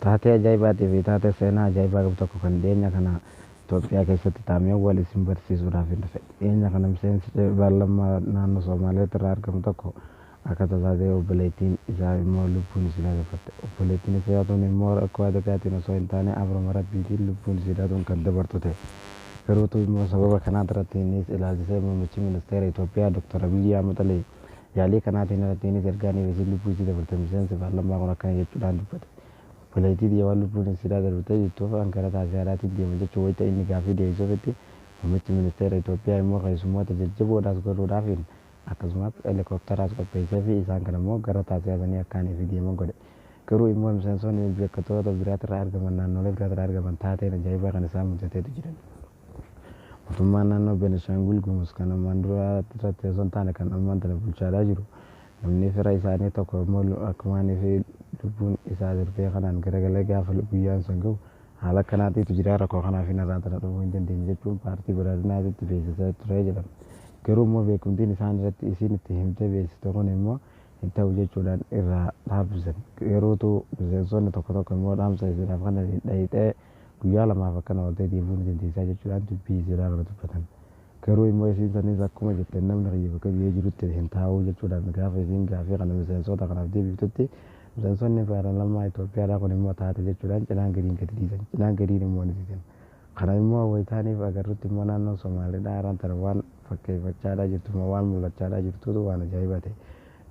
Taatee ajaa'ibaatii fi taatee seenaa ajaa'ibaa qabu tokko kan dhiyeenya kana Itoophiyaa keessatti taameen wal isin barsiisuudhaafin dhufe. Dhiyeenya kana miseensi paarlammaa naannoo Soomaaleet irraa argamu tokko akka tasaa ta'ee obboleettiin isaa immoo lubbuun isiidhaa dabarte. Obboleettiin isaa tun immoo rakkoo adagaatiin osoo hin taane abrama Rabbiitiin lubbuun isiidhaa tun kan dabartu ta'e. Garuutuu immoo sababa kanaatirratti innis ilaalchisee muummichi ministeera Itoophiyaa Dr. Abiyyi Ahmad Ali Yaalii kanaatiin alattiinis ergaan Eebesiin lubbuu isii dabarte miseensi paarlammaa kun akkana jechuudhaan dubbate, Obboleettii tiyya waan lubbuun isiidhaa darbitee jirtuuf an gara Taasiyaadhaatiin deema jechuun wayita inni gaaffii deebisuufitti, muummichi ministeera Itoophiyaa immoo keessummoota jajjaboo dha as godhuudhaafiin akkasumas helikoptaraas qopheesseefii isaan kana immoo gara Taasiyaasanii akka ani fi deeman godhe. Garuu immoo miseensoonni beekkatoota biraatirraa argaman naannoolee biraatirraa argaman taateen ajaa'ibaa kan isaan mudateetu jiran. Mootummaan naannoo Benishaangul Gumuz kan ammaan duraa irratti osoo hin taane kan ammaan tana bulchaadhaa jiru namni fira isaanii tokko immoo akkumaan fi lubbuun isaa darbee kanaan garagalee gaafa guyyaan sun gahu haala akkanaatiitu jira rakkoo kanaa fi narraa tana dhufuu hin dandeenye jechuun paartii badhaadhinaatitti beeksisaa ture jedhan. Garuu immoo beekumtiin isaan irratti isiin itti himtee beeksiste kun immoo hin ta'u jechuudhaan irraa dhaabsisan. Garuutu miseensonni tokko tokko immoo dhaamsa isiidhaaf kana dhayixee Guyyaa lamaaf akkana ooltee deebi'uu ni dandeessaa jechuudhaan dubbii Iziraa irra dubbatan. Garuu immoo isiin saniis akkuma jetteen namni kiyya bakka biyee jirutti hin taa'uu jechuudhaan gaafa isiin gaafii kana miseensoota kanaaf deebiiftutti miseensoonni paaralamaa Itoophiyaadhaa kun immoo taate jechuudhaan cinaan gadiin gadi dhiisan cinaan gadiin immoo ni didan. Kana immoo wayitaaniif agarrutti immoo naannoon Somaaleedhaa araan tana waan fakkeeffachaadhaa jirtu immoo waan mul'achaadhaa jirtuutu waan ajaa'ibaa ta'e.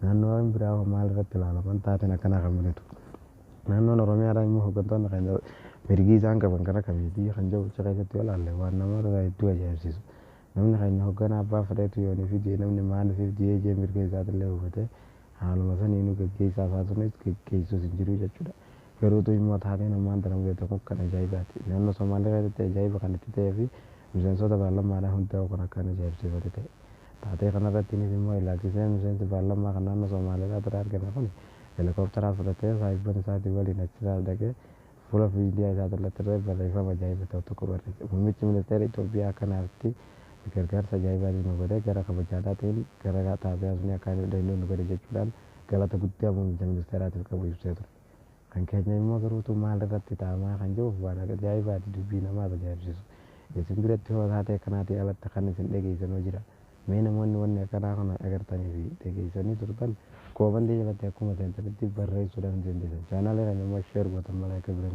Naannoowwan biraa hoo maal irratti ilaalaman taateen akkanaa kan mudatu? Naannoon Oromiyaadhaa immoo hoggantoonni keenya mirgi isaan qaban kan akka miitii kan jiru achi keessatti yoo ilaalle waan nama hedduu ajaa'ibsiisu. Namni keenya hogganaa abbaa fedheetu yoon ofiif jee namni maal ofiif jee jee mirga isaatillee hubatee haaluma saniinuu gaggeessaa isaa sunis gaggeessuus hin jiru jechuudha. Garuutu immoo taateen ammaan tana mudate kun kan ajaa'ibaati. Naannoo Somaalee keessatti ajaa'iba kan itti ta'ee fi miseensoota paarlammaadhaan hundaa'u kan akkaan ajaa'ibsiifatu ta'e. Taatee kanarrattiinis immoo ilaalchisee miseensi paarlammaa kan naannoo Somaaleelaat irraa argame kuni helikooptaraan fudhatee saahibban isaatii waliin achisaas dhaqee fuula miidiyaa isaa irrattirree barreeffama ajaa'iba ta'u tokko barreesse. Muummichi ministeera Itoophiyaa akka naafti gargaarsa ajaa'ibaatii nu godhe gara kabajaadhaatiin gara taatee asnii akkaanii dhaqnee nu gale jechuudhaan galata guddaa muummicha ministeeraatiif qabu ibsee ture. Kan keenya immoo garuu utuu maal irratti taa'amaa kan jiruuf waan ajaa'ibaati dubbii namaas ajaa'ibsiisu. Isin biratti hoo taatee kanaatii alatti kan isin dhageessanoo jira? Mee namoonni wanni akkanaa kana dhagartanii fi dhageessanii turtan koomantii jalatti akkuma seentanitti barreessuu dhaan isin dindeessan. Chaanaalii kana immoo share gootan malee akka biraan.